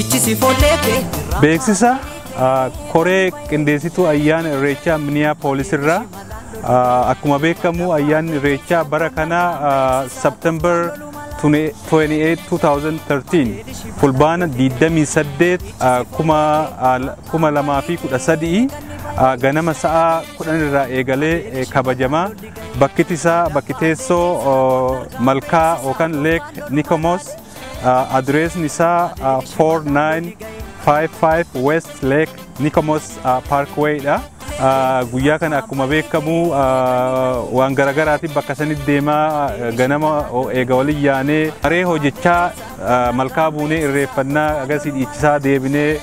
Ichisi foleete. Beeksisa ah, koree qindeessituu ayyaana irreechaa miniyaa poolisirraa ah, akkuma beekamu ayyaanni irreechaa bara kana September 28 2013 fulbaana 28 ah, kuma ah, kuma lamaa fi kudha sadii ah, ganama sa'a 10 irraa eegalee eh, kabajamaa Bakkiti isaa bakki teessoo malkaa yookaan leek Nikomoos adireesni isaa 4955 West Lake Nikomoos Parkway dha. Guyyaa kana akkuma beekamu waan garaagaraatiin bakka sanitti deemaa ganama eega waliin yaanee haree hojjechaa malkaa buunee irreeffannaa agarsiis dhiichisaa deebinee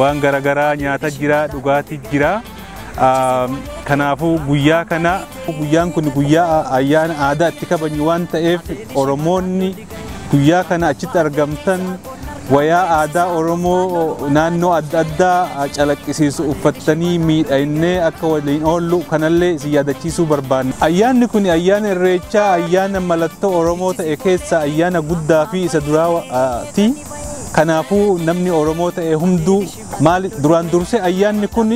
waan garaagaraa nyaata jira dhugaatii jira. Kanaafuu guyyaa kana guyyaan kun guyyaa ayyaana aadaa itti kabajnu waan ta'eef Oromoonni guyyaa kana achitti argamtan wayaa aadaa Oromoo naannoo adda addaa calaqqisiisu uffattanii miidhaginee akka waliin oollu kanallee isin yaadachiisuu barbaanna. Ayyaanni kun ayyaana irreechaa ayyaana mallattoo Oromoo ta'e keessaa ayyaana guddaa fi isa duraati. Kanaafuu namni Oromoo ta'e hunduu Maali duraan dursee ayyaanni kun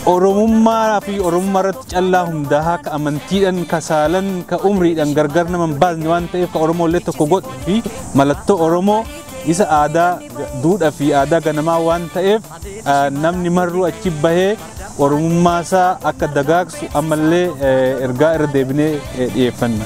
Oromummaa fi Oromummaa irratti callaa hundaa'aa ka amantiidhaan, ka saalan, ka umriidhaan gargar nama hin baasne waan ta'eef ka Oromoo illee tokko godhu fi mallattoo Oromoo isa aadaa duudhaa fi aadaa ganamaa waan ta'eef namni marruu achi bahee Oromummaa isaa akka dagaagsu ammallee ergaa irra deebinee dhiyeeffanna.